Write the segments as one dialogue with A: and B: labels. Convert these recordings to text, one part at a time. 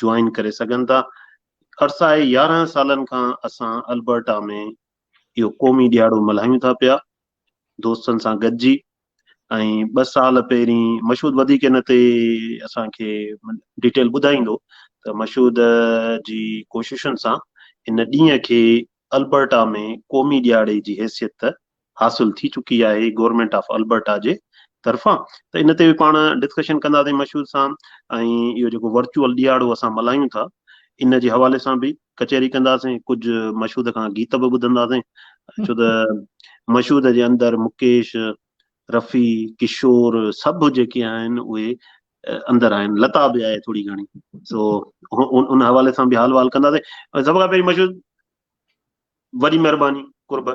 A: Join ڪري سگهن ٿا. عرصائي يارهن سالن کان اسان البرٽا ۾ اهو قومي ڏيهاڙو ملهايون ٿا پيا دوستن سان گڏجي ۽ ٻه سال پهرين مشهود وڌيڪ ان تي اسان کي ڊيٽيل ٻڌائيندو ته مشهود جي ڪوششن سان ان ڏينهن کي البرٽا ۾ قومي ڏيهاڙي جي حيثيت حاصل ٿي چڪي آهي گورنمينٽ آف البرٽا جي طرفان ته ان تي به پاڻ ڊسڪشن ڪنداسين مشهود سان ۽ اهو جيڪو ورچوئل ڏيهاڙو اسان ملهايون ٿا ان جي حوالي سان به ڪچهري ڪنداسين ڪجهه مشهود کان گيت به ٻڌنداسين ڇو ته مشهود جي اندر مڪيش رفي ڪشور سڀ جيڪي آهن اهي اندر آهن لتا به آهي ٿوري گهڻي سو ان حوالي سان به حال وال ڪنداسين سڀ کان پهرين مشهور وڏي مھرباني قرب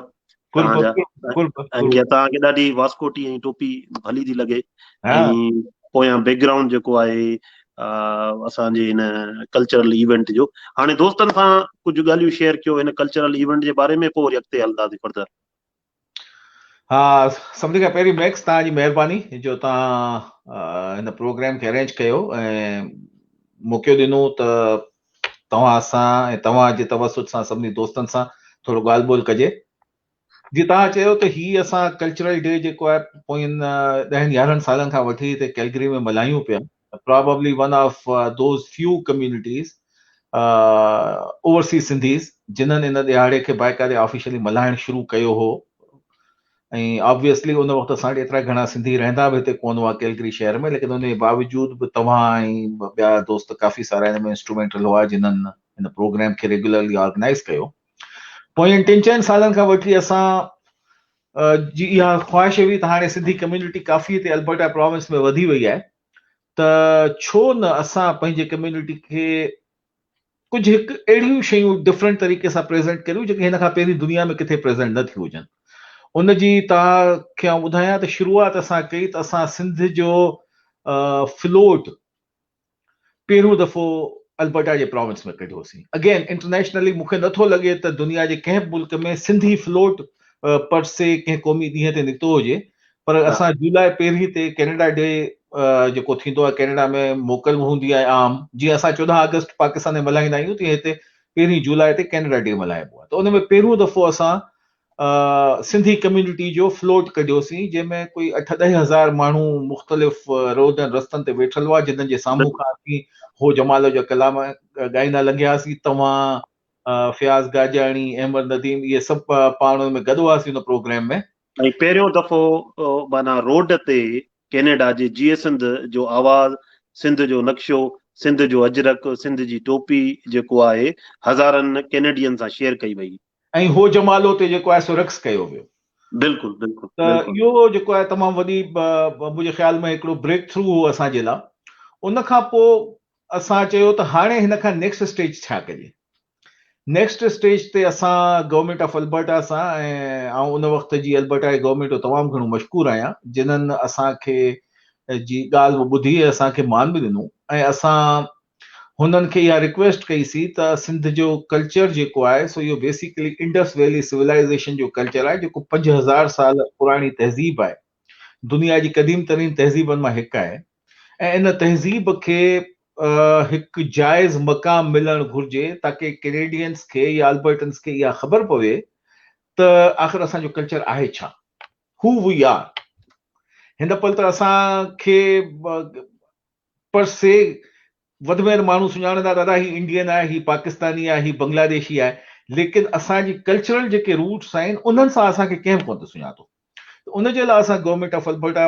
A: توھان جا ۽ توھان کي ڏاڍي واسڪوٽي ۽ ٽوپي ڀلي ٿي لڳي ۽ پويان بيڪ گرائونڊ جيڪو آھي اسان جي ھن ڪلچرل ايونٽ جو ھاڻي دوستن سان ڪجھ ڳالھيون شيئر ڪيو ھن ڪلچرل ايونٽ جي باري ۾ پوء وري اڳتي ھلنداسين فردر
B: ها سڀني کان پهرين ميڪس توهان جي مهرباني جو توهان هن پروگرام کي ارينج ڪيو ۽ موقعو ڏنو ته توهان سان ۽ توهان جي توسط سان سڀني دوستن سان ٿورو ڳالهه ٻولهه ڪجي جي توهان چيو ته هي اسان ڪلچرل ڊي جيڪو آهي پوئين ڏهن يارهن سالن کان وٺي هتي ڪيلگري ۾ ملهايون پيا probably one of those few communities overseas Sindhis جنھن ان ڏهاڙي کي باقاعدي آفيشلي ملھائڻ شروع ڪيو هو ۽ آبويسلي ان وقت اسان وٽ ايترا گهڻا سنڌي رهندا به هتي ڪون هئا ڪيلگري شهر ۾ ليڪن ان جي باوجود به توهان ۽ ٻيا دوست ڪافي سارا هن ۾ انسٽرومينٽل هئا جنھن هن پروگرام کي ريگيولرلي آرگنائيز ڪيو پوئين ٽن چئن سالن کان وٺي اسان جي اها خواهش هئي ته هاڻي سنڌي ڪميونٽي ڪافي هتي البرٽا پراونس ۾ وڌي وئي آهي ته ڇو نه اسان پنهنجي ڪميونٽي کي ڪجهه هڪ اهڙيون شيون ڊفرنٽ طريقي سان پريزنٽ ڪريون جيڪي هن کان پهرين دنيا ۾ ڪٿي پريزنٽ نه ٿيون هجن ان جي توهان کي آئون ٻڌايان ته شروعات اسان ڪئي ته اسان سنڌ جو فلوٽ پهريون دفعو البرٽا جي پراونس ۾ ڪڍيو سين اگين انٽرنيشنلي مون کي نٿو لڳي ته دنيا جي ڪنهن به ملڪ ۾ سنڌي فلوٽ پر سي ڪنهن قومي ڏينهن تي نڪتو هجي پر اسان جولاء پهرين تي ڪينيڊا ڊي جيڪو ٿيندو آهي ڪينيڊا ۾ موڪل هوندي آهي عام جيئن اسان چوڏهن آگسٽ پاڪستان ۾ ملهائيندا آهيون تيئن هتي پهرين جولاء تي ڪينيڊا ڊي ملهائبو آهي ته ان ۾ پهريون دفعو اسان سنڌي ڪميونٽي جو فلوٽ ڪڍيوسين جنهن ۾ ڪوئي اٺ ڏهه هزار ماڻهو مختلف روڊن رستن تي ويٺل هئا جنن جي سامهون کان اسين هو جمال جا ڪلام ڳائيندا لنگهياسين توهان فياض گاجاڻي احمد نديم اهي سڀ پاڻ ۾ گڏ هئاسين ان پروگرام ۾ ۽ پهريون دفعو
A: معنيٰ روڊ تي ڪينيڊا جي جيئي سنڌ جو آواز سنڌ جو نقشو سنڌ جو اجرڪ سنڌ جي ٽوپي جيڪو آهي هزارن ڪينيڊين سان شيئر ڪئي وئي ۽ هو جمالو
B: تي جيڪو آهي سو رقص ڪيو ويو. بلڪل بلڪل
A: ته اهو جيڪو آهي
B: تمام وڏي منهنجي خيال ۾ هڪڙو بريڪ ٿرو هو اسان جي لا ان کان پو اسان چيو ته هاڻي هن کان نيڪسٽ اسٽيج ڇا ڪجي نيڪسٽ اسٽيج تي اسان گورنمينٽ آف البرٽا سان ۽ آئون ان وقت جي البرٽا جي گورنمينٽ جو تمام گهڻو مشڪور آهيان جنن اسان کي جي ڳالهه ٻڌي اسان کي مان به ڏنو ۽ اسان هنن کي اها رڪويسٽ ڪئي سي ته سنڌ جو ڪلچر جيڪو آهي سو اهو بيسيڪلي انڊس ويلي سولائيزيشن جو ڪلچر آهي جيڪو پنج هزار سال پراڻي تهذيب آهي دنيا جي قديم ترين تهذيبن مان هڪ آهي ۽ ان تهذيب کي هڪ جائز مقام ملڻ گهرجي تاڪي ڪينيڊينس کي يا البرٽنس کي اها خبر پوي ته آخر اسان جو ڪلچر آهي ڇا هو وي آر هن پل ته اسان کي پر سي وڌ ۾ وڌ ماڻهو سڃاڻندا ته ادا هي انڊين آهي، هي پاڪستاني آهي، هي بنگلاديشي آهي، ليڪن اسان جي ڪلچرل جيڪي روٽس آهن انهن سان اسان کي ڪنهن به ڪونه ٿو سڃاتو ته ان جي لاء اسان گورنمينٽ آف البرٽا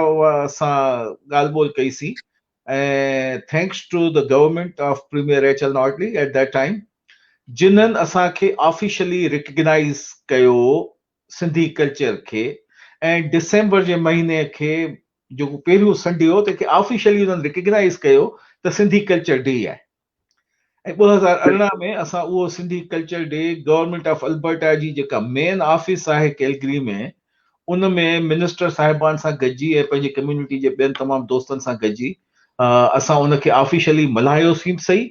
B: سان ڳالهه ٻولهه ڪئي سي ۽ thanks to the government of premier Rachel Notley at that time جنهن اسان کي آفيشلي ريڪگنائيز ڪيو سنڌي ڪلچر کي ۽ ڊسمبر جي مهيني کي جيڪو پهريون سنڊي هو تنهن کي آفيشلي انهن ريڪگنائز ڪيو ته سنڌي ڪلچر ڊي آهي ۽ ٻه هزار ارڙهن ۾ اسان اهو Sindhi culture day government of Alberta جي جيڪا مين آفيس آهي ڪيلگري ۾ ان ۾ منسٽر صاحبان سان گڏجي ۽ پنهنجي ڪميونٽي جي ٻين تمام دوستن سان گڏجي اسان ان کي آفيشلي ملهايوسين به صحيح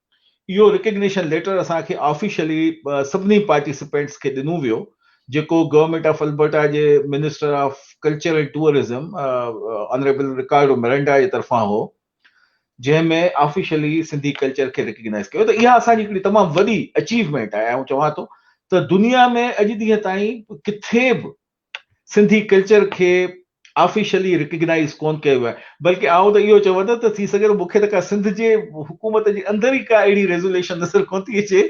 B: اهو رڪگنيشن ليٽر اسان کي آفيشلي سڀني پارٽيسپينٽس کي ڏنو ويو جيڪو گورنمينٽ آف البرٽا جي minister of culture and tourism honourable Ricardo Miranda جي طرفان هو جنهن ۾ آفيشلي سنڌي ڪلچر کي رڪگنائز ڪيو ته اها اسان جي هڪڙي تمام وڏي اچيومينٽ آهي آئون چوان ٿو ته دنيا ۾ اڄ ڏينهن تائين ڪٿي به سنڌي ڪلچر کي آفيشلي رڪگنائيز ڪون ڪيو ويو آهي بلڪه آئون ته اهو چوان ٿو ته ٿي سگهي ٿو مون کي ته ڪا سنڌ جي حڪومت جي اندر ئي ڪا اهڙي ريزوليشن نظر ڪون ٿي اچي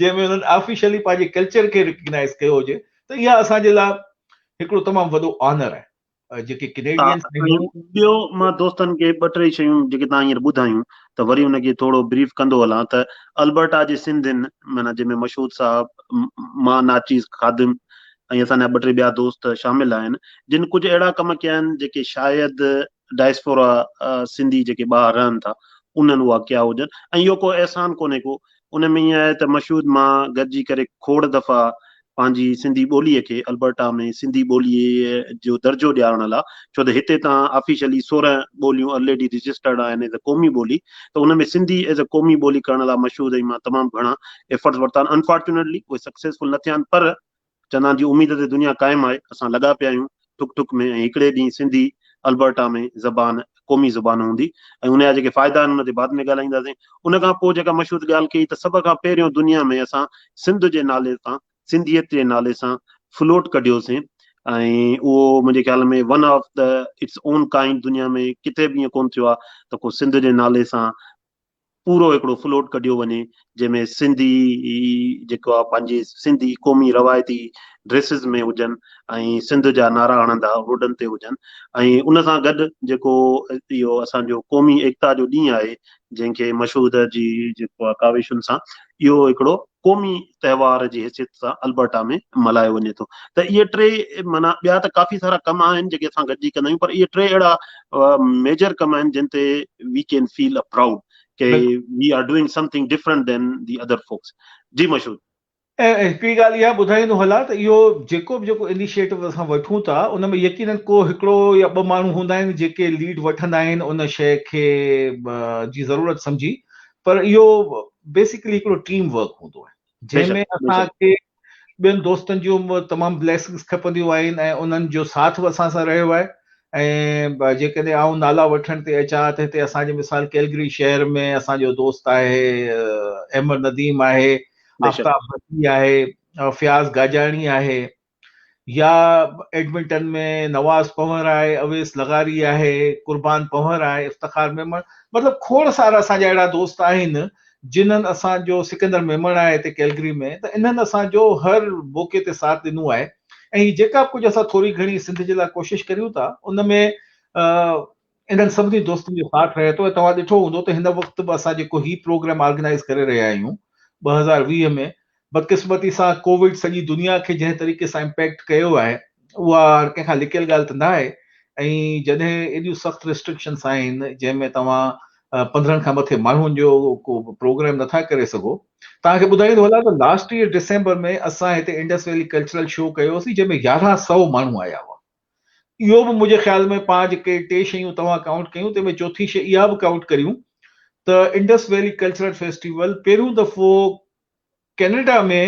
B: جنهن ۾ انهن آفيشلي پنهنجي ڪلچر کي رڪگنائيز ڪيو هجي ته اها اسان جي لاء هڪڙو تمام وڏو آنر آهي جيڪي ڪينيڊينس
A: ٻيو مان
B: دوستن
A: کي ٻه ٽي شيون جيڪي تان هينئر ٻڌايون ته وري ان کي ٿورو بريف ڪندو هلان ته البرٽا جي سنڌين معنيٰ جنهن ۾ مشهود صاحب مان ناچيز خادم ۽ اسان جا ٻه ٽي ٻيا دوست شامل آهن جن ڪجهه اهڙا ڪم ڪيا آهن جيڪي شايد ڊائسپورا سنڌي جيڪي ٻاهر رهن ٿا انهن اها ڪيا هجن ۽ اهو ڪو احسان ڪونهي ڪو ان ۾ ائين آهي ته مشهود مان گڏجي ڪري کوڙ دفعا پنهنجي سنڌي ٻولي کي البرٽا ۾ سنڌي ٻولي جو درجو ڏيارڻ لاء ڇو ته هتي تان آفيشلي سورهن ٻوليون الريڊي رجسٽرڊ آهن ايز اي قومي ٻولي ته ان ۾ سنڌي ايز اي قومي ٻولي ڪرڻ لاء مشهود ۽ مان تمام گهڻا ايفرٽس ورتا آهن انفارچونيٽلي اهي سڪسيسفل نه ٿيا آهن پر چندان جي اميد تي دنيا قائم آهي، اسان لڳا پيا آهيون ٺڪ ٺڪ ۾ ۽ هڪڙي ڏينهن سنڌي البرٽا ۾ زبان قومي زبان هوندي ۽ ان جا جيڪي فائدا آهن ان تي بعد ۾ ڳالهائينداسين. ان کان پوء جيڪا مشهود ڳالهه ڪئي ته سڀ کان پهريون دنيا ۾ اسان سنڌ جي نالي تان سنڌيت جي نالي سان فلوٽ ڪڍيوسين ۽ اهو منهنجي خيال ۾ one of the its own kind دنيا ۾ ڪٿي به ائين ڪونه ٿيو آهي ته ڪو سنڌ جي نالي سان پورو هڪڙو فلوٽ ڪڍيو وڃي جنهن ۾ سنڌي جيڪو آ پنهنجي سنڌي قومي روايتي ڊريسز ۾ هجن ۽ سنڌ جا نعرا هڻندا روڊن تي هجن ۽ ان سان گڏ جيڪو اهو اسان جو قومي ايڪتا جو ڏينهن آهي جنهن کي مشهود جي جيڪو آ ڪاوشن سان اهو هڪڙو قومي تهوار جي حيثيت سان البرٽا ۾ ملهايو وڃي ٿو ته اهي ٽي معنيٰ ٻيا ته ڪافي سارا ڪم آهن جيڪي اسان گڏجي ڪندا آهيون پر اهي ٽي اهڙا ميجر ڪم آهن جن تي we can feel a proud ڪي we are doing something different than the other folks جي مشهور ۽ هڪڙي
B: ڳالهه اها ٻڌائيندو هلان ته اهو جيڪو به جيڪو انيشيٽو اسان وٺون ٿا ان ۾ يقينن ڪو هڪڙو يا ٻه ماڻهو هوندا آهن جيڪي ليڊ وٺندا آهن ان شيء کي جي ضرورت سمجهي پر اهو بيسڪلي هڪڙو ٽيم ورڪ هوندو آهي جنهن ۾ اسان کي ٻين دوستن جون تمام بليسنگس کپنديون آهن ۽ انهن جو ساٿ به اسان سان رهيو آهي ۽ جيڪڏهن آئون نالا وٺڻ تي اچان ته هتي اسان جي مثال ڪيلگري شهر ۾ اسان جو دوست آهي احمد نديم آهي آفتاب بتي
A: آهي
B: فياض گاجاڻي آهي يا ايڊمنٽن ۾ نواز پنهور آهي، اويس لغاري آهي، قربان پنهور آهي، افتخار ميمڻ مطلب کوڙ سارا اسان جا اهڙا دوست آهن جنھن اسان جو سڪندر ميمڻ آهي هتي ڪيلگري ۾ ته انهن اسان جو هر موقعي تي ساٿ ڏنو آهي ۽ هي جيڪا به ڪجهه اسان ٿوري گهڻي سنڌ جي لاء ڪوشش ڪريون ٿا ان ۾ انهن سڀني دوستن جو ساٿ رهي ٿو ۽ توهان ڏٺو هوندو ته هن وقت به اسان جيڪو هي پروگرام آرگنائيز ڪري رهيا آهيون ٻه هزار ويهه ۾ بدقسمتي سان ڪووڊ سڄي دنيا کي جنهن طريقي سان امپيڪٽ ڪيو آهي اها هر ڪنهن کان لڪيل ڳالهه ته نه آهي ۽ جڏهن ايڏيون سخت ريسٽرڪشنس آهن جنهن ۾ توهان پندرهن کان مٿي ماڻهن جو ڪو پروگرام نٿا ڪري سگهو توهان کي ٻڌائيندو هلان ته لاسٽ ايئر ڊسمبر ۾ اسان هتي انڊس ويلي ڪلچرل شو ڪيو هوسين جنهن ۾ يارهن سؤ ماڻهو آيا هئا اهو به منهنجي خيال ۾ پاڻ جيڪي ٽي شيون توهان ڪائونٽ ڪيون تنهن ۾ چوٿين شيء اها به ڪائونٽ ڪريون ته انڊس ويلي ڪلچرل فيسٽيول پهريون دفعو ڪينيڊا ۾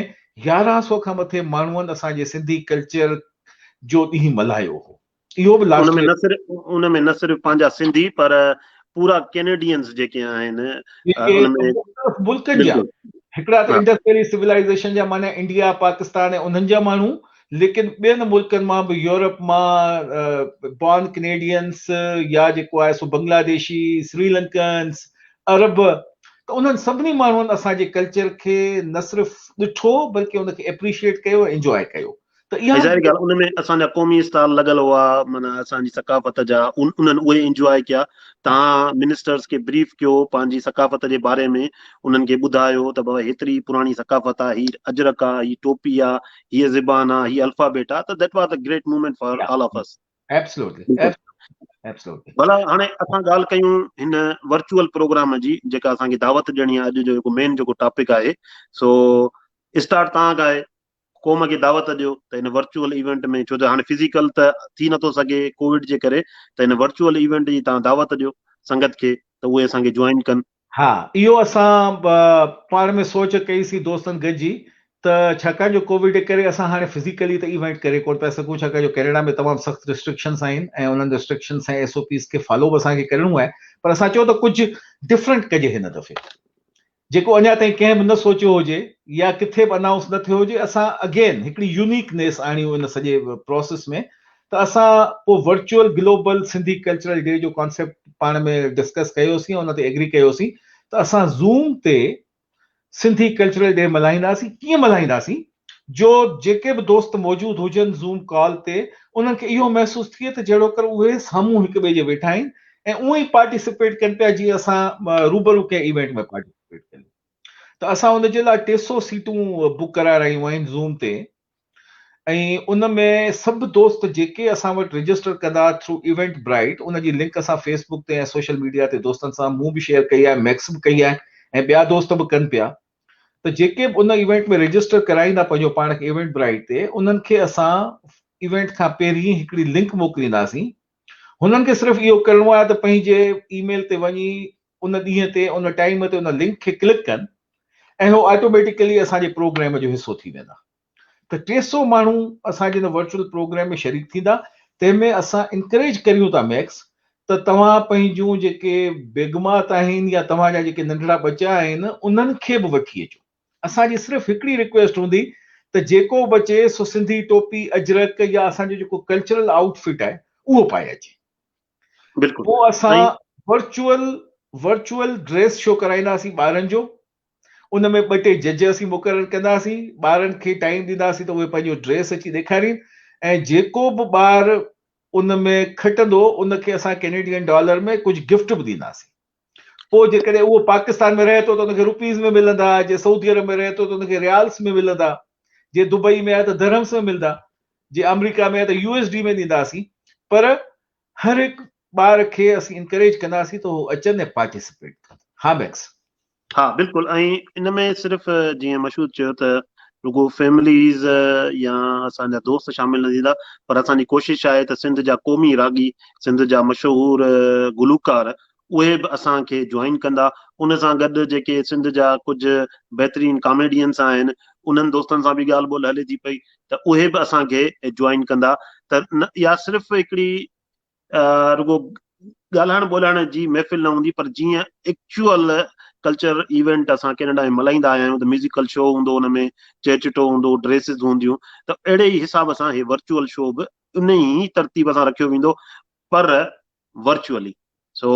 B: يارهن سؤ کان مٿي ماڻهن اسان جي سنڌي ڪلچر جو ڏينهن ملهايو هو اهو به لاسٽ ۾ نه صرف ان ۾ نه صرف
A: پنهنجا سنڌي پر پورا ڪينيڊينز جيڪي آهن ملڪن جا
B: هڪڙا
A: ته
B: انڊس ويلي
A: سولائيزيشن
B: جا معنيٰ انڊيا پاڪستان ۽ انهن جا ماڻهو ليڪن ٻين ملڪن مان به يورپ مان بارن ڪنيڊينس يا جيڪو آهي سو بنگلاديشي سري لنڪنس عرب ته انهن سڀني ماڻهن اسان جي ڪلچر کي نه صرف ڏٺو بلڪه ان کي اپريشيئيٽ ڪيو ۽ انجوائي ڪيو ته اها ظاهري ڳالهه ان ۾ اسان
A: جا قومي اسٽال لڳل هئا معنيٰ اسان جي ثقافت جا انهن اهي انجوائي ڪيا تهان منسٽرس کي بريف ڪيو پنهنجي ثقافت جي باري ۾ انهن کي ٻڌايو ته بابا هيتري پراڻي ثقافت آهي هي اجرڪ آهي هي ٽوپي آهي هيء زبان آ، هيء الفابيٽ آ ته that was a great moment for all of us.
B: ڀلا هاڻي اسان
A: ڳالهه ڪيون هن ورچوئل پروگرام جي جيڪا اسان کي دعوت ڏيڻي آ اڄ جو جيڪو مين جيڪو ٽاپڪ آهي سو اسٽارٽ تان کان آهي قوم کي دعوت ڏيو ته هن ورچوئل ايونٽ ۾ ڇو ته هاڻي فزيڪل ته ٿي نٿو سگهي ڪوويڊ جي ڪري ته هن ورچوئل ايونٽ جي تان دعوت ڏيو سنگت کي ته اهي اسان کي جوائن ڪن ها اهو
B: اسان پاڻ ۾ سوچ ڪئي سي دوستن گڏجي ته ڇاڪاڻ جو ڪووڊ جي ڪري اسان هاڻي فزيڪلي ته ايونٽ ڪري ڪونه پيا سگهون ڇاڪاڻ جو ڪينيڊا ۾ تمام سخت ريسٽرڪشنس آهن ۽ انهن ريسٽرڪشنس ۽ ايس او پيز کي فالو به اسان کي ڪرڻو آهي پر اسان چيو ته ڪجهه ڊفرنٽ ڪجي هن دفعي جيڪو اڃا تائين ڪنهن به نه سوچيو هجي يا ڪٿي به انائونس نه ٿيو هجي اسان اگين هڪڙي يونيڪ نيس آڻيون ان سڄي پروسيس ۾ ته اسان پوء virtual global Sindhi cultural day جو ڪانسيپٽ پاڻ ۾ ڊسڪس ڪيوسين ۽ ان تي ايگري ڪيوسين ته اسان زوم تي سنڌي ڪلچرل ڊي ملهائينداسين ڪيئن ملهائينداسين جو جيڪي به دوست موجود هجن زوم ڪال تي انهن کي اهو محسوس ٿئي ته جهڙوڪر اهي سامهون هڪ ٻئي جي ويٺا آهن ۽ اهو ئي پارٽيسپيٽ ڪن پيا جيئن اسان روبرو ڪنهن ايونٽ ۾ پارٽيسپيٽ ڪيون ته اسان ان جي لاء ٽي سؤ سيٽون بڪ ڪرائي رهيون آهن زوم تي ۽ ان ۾ سڀ دوست جيڪي اسان وٽ رجسٽر ڪدا ٿرو ايونٽ برائيٽ ان جي لنڪ اسان فيس بڪ تي ۽ سوشل ميڊيا تي دوستن سان مون به شيئر ڪئي آهي ميڪس به ڪئي آهي ۽ ٻيا دوست به ڪن پيا ته جيڪي به ان ايونٽ ۾ رجسٽر ڪرائيندا پنهنجو پاڻ کي ايونٽ برائيٽ تي انهن کي اسان ايونٽ کان پهرين هڪڙي لنڪ موڪلينداسين هنن کي صرف اهو ڪرڻو آهي ته پنهنجي اي ميل تي وڃي ان ڏينهن تي ان ٽائيم تي ان لنڪ کي ڪلڪ ڪن ۽ هو آٽوميٽيڪلي اسان جي پروگريم جو حصو ٿي ويندا ته ٽي سؤ ماڻهو اسان جي ان ورچوئل پروگريم ۾ شريڪ ٿيندا تنهن ۾ اسان انڪريج ڪريون ٿا ميڪس ته توهان پنهنجون جيڪي بيگمات آهن يا توهان جا جيڪي ننڍڙا ٻچا آهن انهن کي به وٺي اچو اسان جي صرف هڪڙي رڪويسٽ هوندي ته جيڪو به اچي سو سنڌي ٽوپي اجرڪ يا اسان جو جيڪو ڪلچرل آئوٽ فٽ آهي اهو پائي اچي بلڪل
A: پوء اسان
B: ورچوئل ورچوئل ڊريس شو ڪرائينداسين ٻارن جو ان ۾ ٻه ٽي جج اسين مقرر ڪنداسين ٻارن کي ٽائيم ڏينداسين ته اهي پنهنجو ڊريس اچي ڏيکارين ۽ جيڪو به ٻار ان ۾ کٽندو ان کي اسان ڪينيڊين ڊالر ۾ ڪجهه گفٽ به ڏينداسين پوء جيڪڏهن اهو پاڪستان ۾ رهي ٿو ته ان کي روپيز ۾ ملندا، جي سعودي عرب ۾ رهي ٿو ته ان کي ريالس ۾ ملندا، جي دبئي ۾ آهي ته درهمس ۾ ملدا، جي آمريڪا ۾ آهي ته يو ايس ڊي ۾ ڏينداسين پر هر هڪ ٻار کي اسين انڪريج ڪنداسين ته هو اچن ۽ پارٽيسپيٽ ڪن ها ميڪس. ها بلڪل
A: ۽ ان ۾ صرف جيئن مشهود چيو ته رڳو فيمليز يا اسان جا دوست شامل نه ٿيندا پر اسان جي ڪوشش آهي ته سنڌ جا قومي راڳي سنڌ جا مشهور گلوڪار اهي به اسان کي جوائن ڪندا ان سان گڏ جيڪي سنڌ جا ڪجهه بهترين ڪاميڊينس آهن انهن دوستن سان به ڳالهه ٻولهه هلي ٿي پئي ته اهي به اسان کي جوائن ڪندا ته اها صرف هڪڙي رڳو ڳالهائڻ ٻولهائڻ جي محفل نه هوندي پر جيئن ايڪچوئل ڪلچر ايونٽ اسان ڪينيڊا ۾ ملهائيندا آيا آهيون ته ميوزيڪل شو هوندو ان ۾ چهه چٽو هوندو ڊريسز هونديون ته اهڙي ئي حساب سان هي ورچوئل شو به ان ئي ترتيب سان رکيو ويندو پر ورچوئلي سو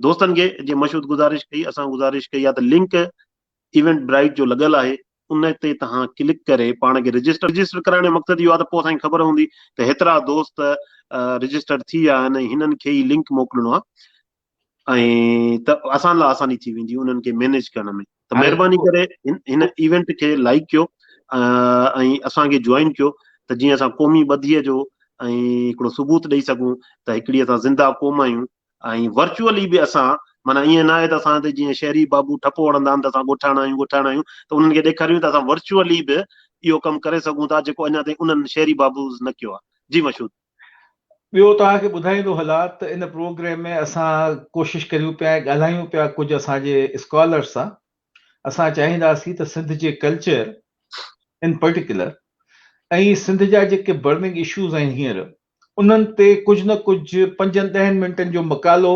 A: دوستن کي جي مشهود گذارش ڪئي اسان گذارش ڪئي آ ته لنڪ ايونٽ برائيٽ جو لڳل آهي ان تي توهان ڪلڪ ڪري پاڻ کي رجسٽر رجسٽر ڪرائڻ جو مقصد اهو آ ته پوء اسان کي خبر هوندي ته هيترا دوست رجسٽر ٿي ويا آهن هنن کي هي لنڪ موڪلڻو آ ۽ ته اسان لاء آساني ٿي ويندي انهن کي مينيج ڪرڻ ۾ ته مهرباني ڪري هن ايونٽ کي لائيڪ ڪيو ۽ اسان کي جوائن ڪيو ته جيئن اسان قومي ٻڌيء جو ۽ هڪڙو ثبوت ڏئي سگهون ته هڪڙي اسان زنده قوم آهيون ۽ ورچوئلي به اسان معنيٰ ائين نه آهي ته اسان تي جيئن شهري بابو ٺپو هڻندا آهن ته اسان ڳوٺاڻا آهيون ڳوٺاڻا آهيون ته انهن کي ڏيکاريون ته اسان ورچوئلي به اهو ڪم ڪري سگهون ٿا جيڪو اڃا تائين انهن شهري بابوز نه ڪيو آهي جي مشهود ٻيو
B: توهان کي ٻڌائيندو هلان ته ان پروگريم ۾ اسان ڪوشش ڪريون پيا ۽ ڳالهايون پيا ڪجهه اسان جي اسڪالرس سان اسان چاهينداسين ته سنڌ جي ڪلچر ان پرٽيڪولر ۽ سنڌ جا جيڪي برننگ اشوز آهن هينئر انهن تي ڪجهه نه ڪجهه پنجن ڏهن منٽن جو مقالو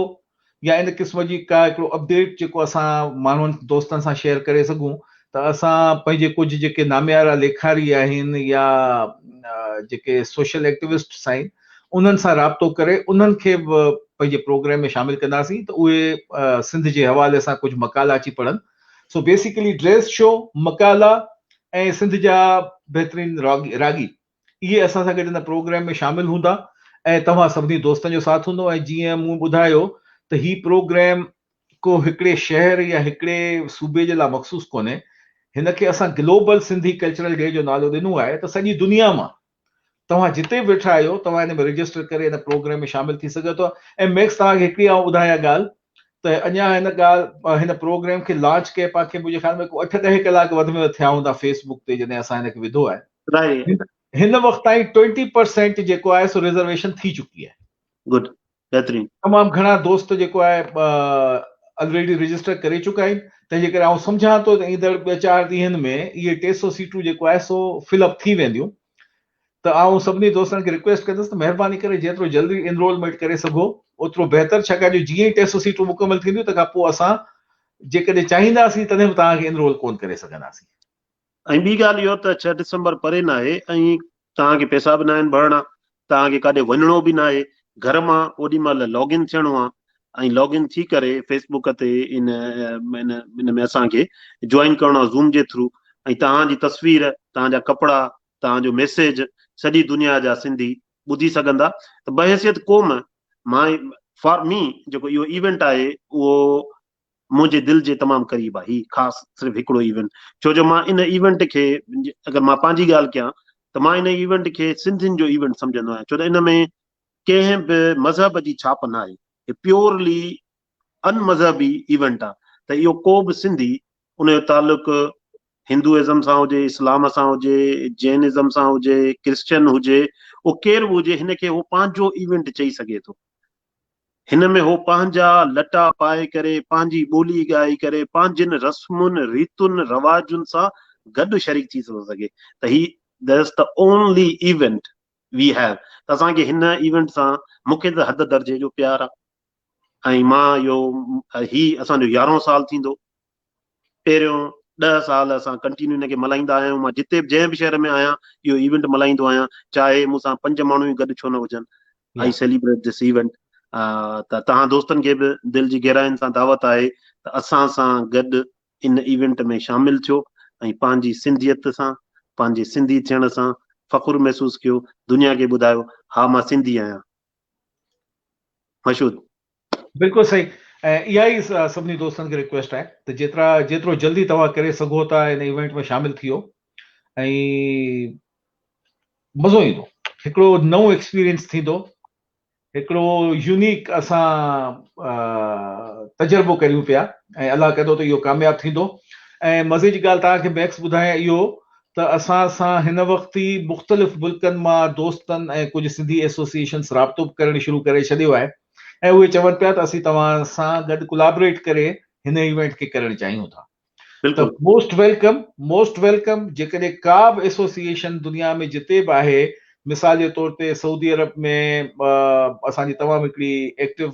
B: يا ان قسم جي ڪا هڪڙو اپڊيٽ جيڪو اسان ماڻهن دوستن سان شيئر ڪري سگهون ته اسان پنهنجي ڪجهه جيڪي ناميارا ليکاري آهن يا جيڪي سوشل ايڪٽيوسٽس آهن انهن سان رابطو ڪري انهن کي به پنهنجي پروگرام ۾ شامل ڪنداسين ته اهي سنڌ جي حوالي سان ڪجهه مقالا اچي پڙهن سو بيسيڪلي ڊريس شو مقالا ۽ سنڌ جا بهترين راڳي اهي اسان سان گڏ هن پروگرام ۾ شامل هوندا ۽ توهان سڀني دوستن جو ساٿ هوندو ۽ جيئن مون ٻڌايو ته هي پروگرام ڪو هڪڙي شهر يا هڪڙي صوبي جي لاء مخصوص ڪونهي هن کي اسان گلوبل سنڌي ڪلچرل ڊي جو نالو ڏنو آهي ته سڄي دنيا مان توهان جتي به ويٺا آهيو توهان هن ۾ رجسٽر ڪري هن پروگرام ۾ شامل ٿي سگهو ٿا ۽ ميڪس توهان کي هڪڙي آئون ٻڌايان ڳالهه ته اڃا هن ڳالهه هن پروگرام کي لانچ ڪئي پا کي منهنجي خيال ۾ ڪو اٺ ڏهه ڪلاڪ وڌ ۾ وڌ ٿيا هوندا فيس بڪ تي جڏهن اسان هن کي وڌو آهي رائٽ
A: هن وقت تائين
B: ٽوئنٽي پرسينٽ جيڪو آهي سو ريزرويشن ٿي چڪي آهي گڊ
A: بهترين تمام گهڻا دوست
B: جيڪو آهي آلريڊي رجسٽر ڪري چڪا آهن تنهن جي ڪري آئون سمجهان ٿو ته ايندڙ ٻه چار ڏينهن ۾ اهي ٽي سو سيٽون جيڪو آهي سو فل اپ ٿي وينديون ته آئون سڀني دوستن کي رڪويسٽ ڪندس ته مهرباني ڪري جيترو جلدي انرولمينٽ ڪري سگهو اوترو بهتر ڇاڪاڻ جو جيئن ئي ٽيسٽ سيٽون مڪمل ٿينديون تنهن کان پوء اسان جيڪڏهن چاهينداسين تڏهن به توهان کي انرول ڪونه ڪري سگهنداسين. ۽ ٻي
A: ڳالهه اهو ته ڇهه ڊسمبر پري ناهي ۽ توهان کي پئسا به ناهن ڀرڻا، توهان کي ڪاڏي وڃڻو به ناهي، گهر مان اوڏي مهل لاگ ان ٿيڻو آهي ۽ لاگ ان ٿي ڪري فيس بوڪ تي ان ان ۾ اسان کي جوائن ڪرڻو آهي زوم جي ٿرو ۽ توهان جي تصوير، توهان جا ڪپڙا، توهان جو ميسيج سڄي دنيا جا سنڌي ٻڌي سگهندا ته بحيثيت قوم ماء فار مي جيڪو اهو ايونٽ آهي اهو منهنجي دل جي تمام قريب آهي هي خاص صرف هڪڙو ايونٽ ڇو جو مان ان ايونٽ کي اگر مان پنهنجي ڳالهه ڪيان ته مان ان ايونٽ کي سنڌين جو ايونٽ سمجهندو آهيان ڇو ته ان ۾ ڪنهن به مذهب جي ڇاپ ناهي هي پيورلي ان مذهبي ايونٽ آ ته اهو ڪو به سنڌي ان جو تعلق هندو ازم سان هجي اسلام سان هجي جين ازم سان هجي ڪرسچن هجي اهو ڪير به هجي هن کي هو پنهنجو ايونٽ چئي سگهي ٿو هن ۾ هو پنهنجا لٽا پائي ڪري پنهنجي ٻولي ڳائي ڪري پنهنجين رسمن ريتن رواجن سان گڏ شريڪ ٿي ٿو سگهي ته هي ديس ته اونلي ايونٽ وي هيو ته اسان کي هن ايونٽ سان مون کي ته حد درجي جو پيار آ ۽ مان اهو هي اسان جو يارهون سال ٿيندو پهريون ڏهه سال اسان ڪنٽينيو هن کي ملهائيندا آيا آهيون مان جتي به جنهن به شهر ۾ آهيان اهو ايونٽ ملهائيندو آهيان چاهي مون سان پنج ماڻهو ئي گڏ ڇو نه هجن آئي سيليبريٽ دس ايونٽ ته توهان دوستن کي به دل جي گهراين سان دعوت آهي ته اسان سان گڏ ان ايونٽ ۾ شامل ٿيو ۽ پنهنجي سنڌيت سان پنهنجي سنڌي ٿيڻ سان فخر محسوس ڪيو دنيا کي ٻڌايو ها مان سنڌي آهيان. مشهود. بلڪل صحيح
B: ۽ اها ئي سڀني دوستن کي رڪويسٽ آهي ته جيترا جيترو جلدي توهان ڪري سگهو ٿا ان ايونٽ ۾ شامل ٿيو ۽ مزو ايندو هڪڙو نئون ايڪسپيرينس ٿيندو هڪڙو يونيڪ اسان تجربو ڪريون پيا ۽ الله ڪندو ته اهو ڪامياب ٿيندو ۽ مزي جي ڳالهه توهان کي ميڪس ٻڌايان اهو ته اسان سان هن وقت ئي مختلف ملڪن مان دوستن ۽ ڪجهه سنڌي ايسوسيئيشنز رابطو ڪرڻ شروع ڪري ڇڏيو آهي ۽ اهي چون پيا ته اسين توهان سان گڏ ڪولابريٽ ڪري هن ايونٽ کي ڪرڻ چاهيون ٿا ته موسٽ ويلڪم موسٽ ويلڪم جيڪڏهن ڪا به ايسوسيئيشن دنيا ۾ جتي به آهي مثال جي طور تي سعودي عرب ۾ اسان جي تمام هڪڙي ايڪٽو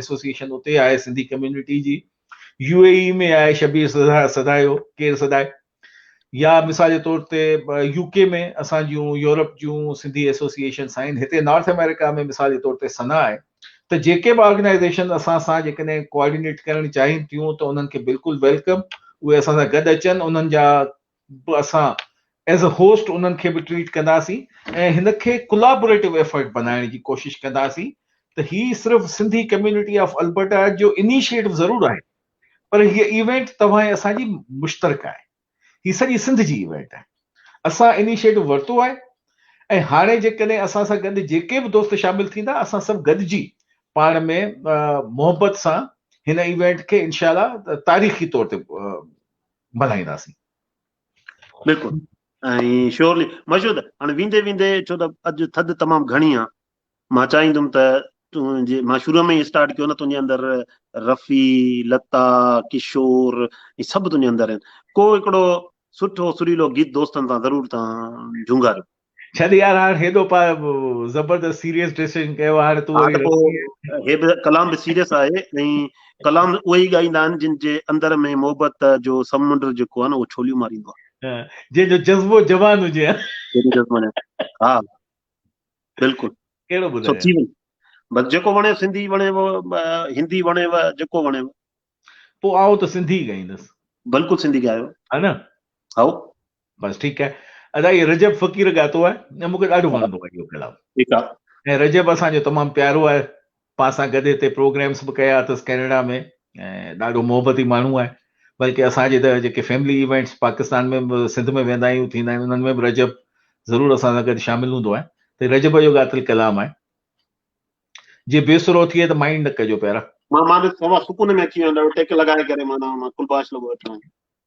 B: ايسوسيئيشن اتي آهي سنڌي ڪميونٽي جي يو اي اي ۾ آهي شبير سڌايو ڪير سڌائي يا مثال جي طور تي يو ڪي ۾ اسان جون يورپ جون سنڌي ايسوسيئيشنس آهن هتي نارٿ آمريڪا ۾ مثال جي طور تي سنا آهي ته جيڪي به آرگنائيزيشن اسان سان جيڪڏهن ڪوآرڊينيٽ ڪرڻ چاهين ٿيون ته انهن کي بلڪل ويلڪم اهي اسان سان گڏ اچن انهن جا اسان ايز اي هوسٽ انهن کي به ٽريٽ ڪنداسين ۽ هن کي ڪولابوريٽو ايفرٽ بنائڻ جي ڪوشش ڪنداسين ته هي صرف سنڌي ڪميونٽي آف البرٽا جو انيشيٽو ضرور آهي پر هي ايونٽ توهان ۽ اسان جي مشترڪه آهي هي سڄي سنڌ جي ايونٽ آهي اسان انيشيٽو ورتو آهي ۽ هاڻي جيڪڏهن اسان سان گڏ جيڪي به دوست شامل ٿيندا اسان سڀ گڏجي پاڻ ۾ محبت سان هن ايونٽ کي انشاء الله تاريخي طور تي ملهائينداسين.
A: بلڪل ۽ شيورلي مشهود هاڻي ويندي ويندي ڇو ته اڄ ٿڌ تمام گهڻي آ مان چاهيندم ته تون جي مان شروع ۾ اسٽارٽ ڪيو نه تنهنجي اندر رفي لتا ڪشور هي سڀ تنهنجي اندر آهن ڪو هڪڙو سٺو سريلو گيت دوستن سان ضرور تان جهونگاريو ڇڏ يار هاڻ
B: هيڏو پا زبردست سيريس ڊريسنگ ڪيو هاڻ تون وري
A: هي به ڪلام به سيريس آهي ۽ ڪلام اهي ئي ڳائيندا آهن جن جي اندر ۾ محبت جو سمنڊ جيڪو آهي نه اهو ڇوليون ماريندو آهي جنهن جو جذبو
B: جوان هجي
A: ها بلڪل ڪهڙو
B: ٻڌايو
A: بس جيڪو وڻيو سنڌي وڻيو
B: هندي
A: وڻيو
B: جيڪو
A: وڻيو پوء
B: آئون ته
A: سنڌي
B: ڳائيندس
A: بلڪل سنڌي ڳايو ها نه
B: هائو
A: بس ٺيڪ
B: آهي ادا هي رجب فقير ڳاتو آهي ۽ مونکي ڏاڍو وڻندو آهي اهو ڪلام ٺيڪ آهي ۽
A: رجب اسان جو
B: تمام پيارو آهي پا سان گڏ هتي پروگرامز به ڪيا اٿس ڪينيڊا ۾ ۽ ڏاڍو محبتي ماڻهو آهي بلڪه اسان جي ته جيڪي فيملي ايونٽس پاڪستان ۾ به سنڌ ۾ ويندا آهيون ٿيندا آهن انهن ۾ به رجب ضرور اسان سان گڏ شامل هوندو آهي ته رجب جو ڳاتل ڪلام آهي جي بي سرو ٿئي ته مائنڊ نه ڪجو پيارا مان مان به سوا سڪون
A: ۾ اچي ويندو ٽيڪ لڳائي ڪري مانا مان ڪلباش لڳو وٺان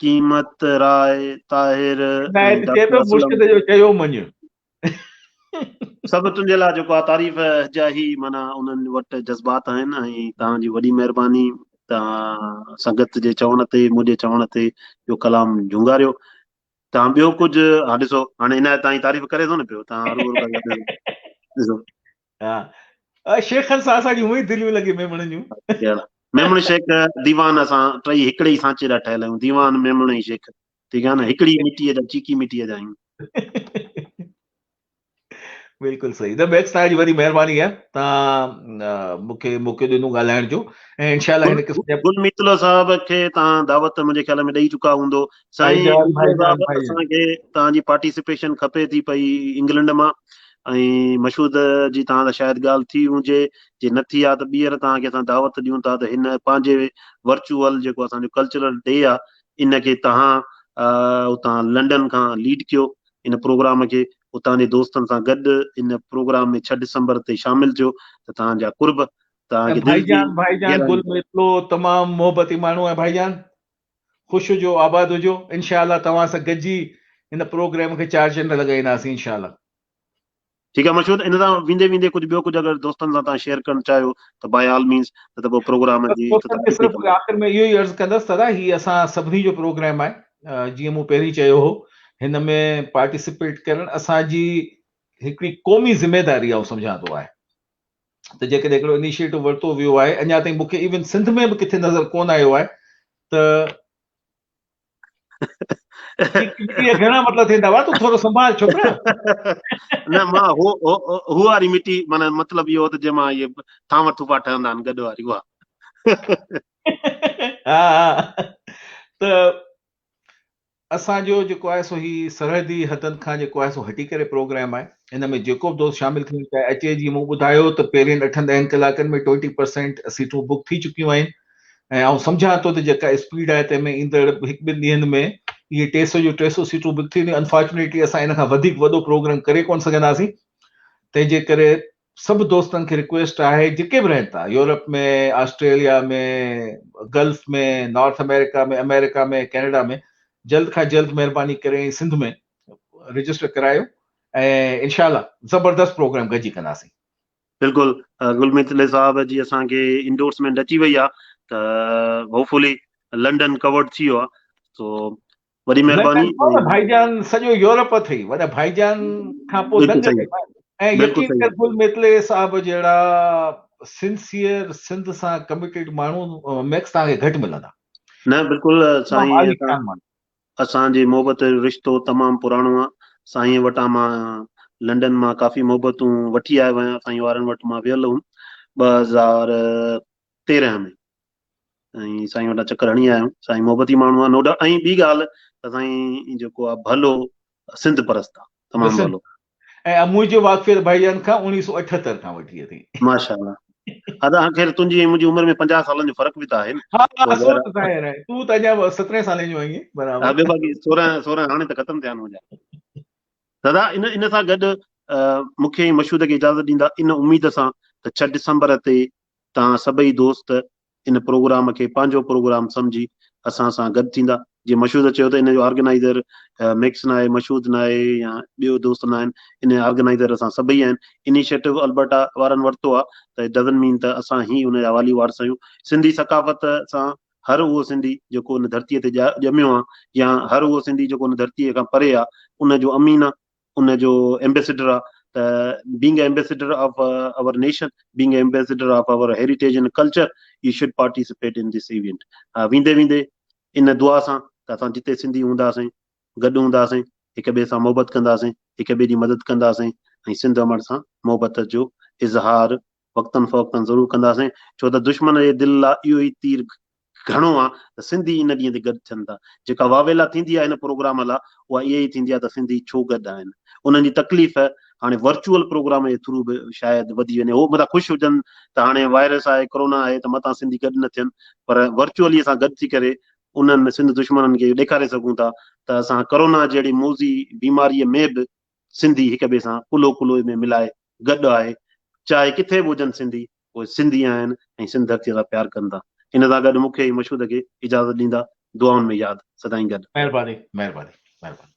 A: قيمت راء طاهر ۽ ڊاڪٽر اسلم
B: چيو مڃ سڀ
A: تنهنجي لاء جيڪو آ تعريف جا هي معنيٰ انهن وٽ جذبات آهن ۽ توهان جي وڏي مهرباني توهان سنگت جي چوڻ تي منهنجي چوڻ تي اهو ڪلام جهونگاريو توهان ٻيو ڪجهه ها ڏسو هاڻي عنايت تائين تعريف ڪري ٿو نه پيو توهان ڏسو
B: ها شيخن سان اسان جون هونئن ئي دليون لڳي ميمڻن جون. ميمڻ
A: شيخ ديوان اسان ٽئي هڪڙي ئي سانچي لا ٺهيل آهيون ديوان ميمڻ ۽ شيخ ٺيڪ آهي نه هڪڙي مٽيء جا چيڪي مٽيء جا آهيون.
B: بلڪل صحيح ته ميڪس تان جي وڏي مهرباني آهي تان مونکي موقعو ڏنو ڳالهائڻ جو ۽ انشاء الله هن قسم جا گل ميتلو صاحب
A: کي تان دعوت منهنجي خيال ۾ ڏئي چڪا هوندو سائين مير صاحب اسان
B: کي توهان
A: جي پارٽيسپيشن کپي ٿي پئي انگلنڊ مان ۽ مشهود جي توهان سان شايد ڳالهه ٿي هجي جي نه ٿي آ ته ٻيهر توهان کي اسان دعوت ڏيون ٿا ته هن پنهنجي ورچوئل جيڪو اسان جو ڪلچرل ڊي آ ان کي توهان اتان لنڊن کان ليڊ ڪيو ان پروگرام کي اتان جي دوستن سان گڏ ان پروگرام ۾ 6 ڊسمبر تي شامل ٿيو ته توهان جا قرب توهان جي دل جي ڀائي جان ڀائي جان گل ميتلو تمام
B: محبتي ماڻهو آهي ڀائي جان خوش هجو آباد هجو انشاء الله توهان سان گڏجي هن پروگرام کي چار چنڊ لڳائينداسين انشاء الله.
A: ٺيڪ آهي مشهور ان سان ويندي ويندي ڪجهه ٻيو ڪجهه اگر دوستن سان تان شيئر ڪرڻ چاهيو ته باء آل مينز نه ته پوء پروگرام جي آخر
B: ۾ اهو ئي
A: عرض ڪندس
B: دادا هي اسان سڀني جو پروگرام آهي جيئن مون پهرين چيو هو هن ۾ پارٽيسپيٽ ڪرڻ اسان جي هڪڙي قومي ذميداري آئون سمجهان ٿو آهي ته جيڪڏهن اهڙو انيشيئيٽو ورتو ويو آهي اڃا تائين مون کي ايون سنڌ ۾ به ڪٿي نظر ڪونه آيو آهي ته گهڻا مطلب ٿيندا هئا تون ٿورو سنڀال ڇوڪرا
A: نه مان هو هو واري مٽي معنی مطلب اهو ته جنهن مان اهي ٿانو ٿوپا ٺهندا آهن گڏ واري اها ها ها
B: ته اسان جو جيڪو آهي سو هي سرحدي حدن کان جيڪو آهي سو هٽي ڪري پروگرام آهي ان ۾ جيڪو به دوست شامل ٿيڻ چاهي اچي جيئن مون ٻڌايو ته پهرين اٺن ڏهن ڪلاڪن ۾ ٽوئنٽي پرسينٽ سيٽون بڪ ٿي چڪيون آهن ۽ آئون سمجهان ٿو ته جيڪا اسپيڊ آهي تنهن ۾ ايندڙ هڪ ٻن ڏينهن ۾ اهي ٽي سئو جون ٽي سئو سيٽون بڪ ٿي وينديون انفارچونيٽلي اسان ان کان وڌيڪ وڏو پروگرام ڪري ڪونه سگهنداسين تنهن جي ڪري سڀ دوستن کي رڪويسٽ آهي جيڪي به رهن ٿا Europe ۾ Australia ۾ Gulf ۾ North America ۾ America ۾ Canada ۾ جلد کان جلد مهرباني ڪري ۽ سنڌ ۾ رجسٽر ڪرايو ۽ انشاء الله زبردست پروگرام گڏجي ڪنداسين. بلڪل
A: گل ميتلي صاحب جي اسان کي انڊورسمينٽ اچي وئي آ ته هوپ فلي لنڊن ڪورڊ ٿي ويو آ سو وڏي مهرباني وڏا ڀائيجان سڄو
B: يورپ اٿئي وڏا ڀائيجان کان پوء دنگ اٿئي ۽
A: يقين
B: ڪر گل
A: ميتلي صاحب
B: جهڙا سنسيئر سنڌ سان ڪميٽيڊ ماڻهو ميڪس توهان کي گهٽ ملندا نه
A: بلڪل سائين
B: اسان جي محبت
A: جو رشتو تمام پراڻو آ سائين وٽان مان لنڊن مان ڪافي محبتون وٺي آيو آهيان سائين وارن وٽ مان ويل هوم ٻه هزار تيرهن ۾ ۽ سائين وٽان چڪر هڻي آيم سائين محبتي ماڻهو آهي نو ڊائوٽ ۽ ٻي ڳالهه ته سائين جيڪو آهي ڀلو سنڌ پرست آهي تمام ڀلو ۽
B: منهنجو واقفيت ڀائي جان کان اڻيهه سؤ اٺهتر کان وٺي اٿئي. ماشاء الله
A: ادا هان خير تنهنجي ۽ منهنجي عمر ۾ پنجاهه سالن جو فرق به ته آهي نه ها ها سو ته ظاهر آهي تون ته اڃا سترهن سالين
B: جو
A: آهين
B: برابر ها ٻيو باقي سورهن
A: سورهن هاڻي ته ختم ٿيا آهن منهنجا دادا ان ان سان گڏ مون کي مشهود کي اجازت ڏيندا ان اميد سان ته ڇهه ڊسمبر تي توهان سڀئي دوست ان پروگرام کي پنهنجو پروگرام سمجهي اسان سان گڏ ٿيندا. جيئن مشهود چيو ته ان جو آرگنائيزر ميڪس ناهي، مشهود ناهي يا ٻيو دوست ناهن، ان آرگنائيزر اسان سڀئي آهن. انيشيٽو البرٽا وارن ورتو آهي ته اٽ ڊزنٽ مين ته اسان ئي ان جا والي وارث آهيون. سنڌي ثقافت سان هر اهو سنڌي جيڪو ان ڌرتيء تي ڄميو آهي يا هر اهو سنڌي جيڪو ان ڌرتيء کان پري آهي ان جو امين آهي. ان جو ايمبيسيڊر آ ته being a ambassador of our nation being a ambassador of our heritage and culture you should participate in this event ويندي ويندي ان دعا سان ته اسان جتي سنڌي هونداسين گڏ هونداسين هڪ ٻئي سان محبت ڪنداسين هڪ ٻئي جي مدد ڪنداسين ۽ سنڌ امڙ سان محبت جو اظهار وقتن فوقتن ضرور ڪنداسين، ڇو ته دشمن جي دل لا اهو ئي تير گهڻو آ ته سنڌي ان ڏينهن تي گڏ ٿين ٿا. جيڪا واويلا ٿيندي آ هن پروگرام لا اها اها ئي ٿيندي آ ته سنڌي ڇو گڏ آهن. انهن جي تڪليف هاڻي ورچوئل پروگرام جي ٿرو به شايد وڌي وڃي. هو متان خوش هجن ته هاڻي وائرس آهي، ڪرونا آهي ته متان سنڌي گڏ نه ٿين پر ورچوئلي اسان گڏ ٿي ڪري انهن سنڌ دشمنن کي اهو ڏيکاري سگهون ٿا ته اسان ڪرونا جهڙي موذي بيماريء ۾ به سنڌي هڪ ٻئي سان ڪلهو ڪلهوء ۾ ملائي گڏ آهي، چاهي ڪٿي به هجن سنڌي، اهي سنڌي آهن ۽ سنڌ ڌرتيء سان پيار ڪن ٿا. ان سان گڏ مون کي ۽ مشهود کي اجازت ڏيندا، دعائن ۾ ياد،
B: سدائين
A: گڏ. مهرباني مهرباني مهرباني.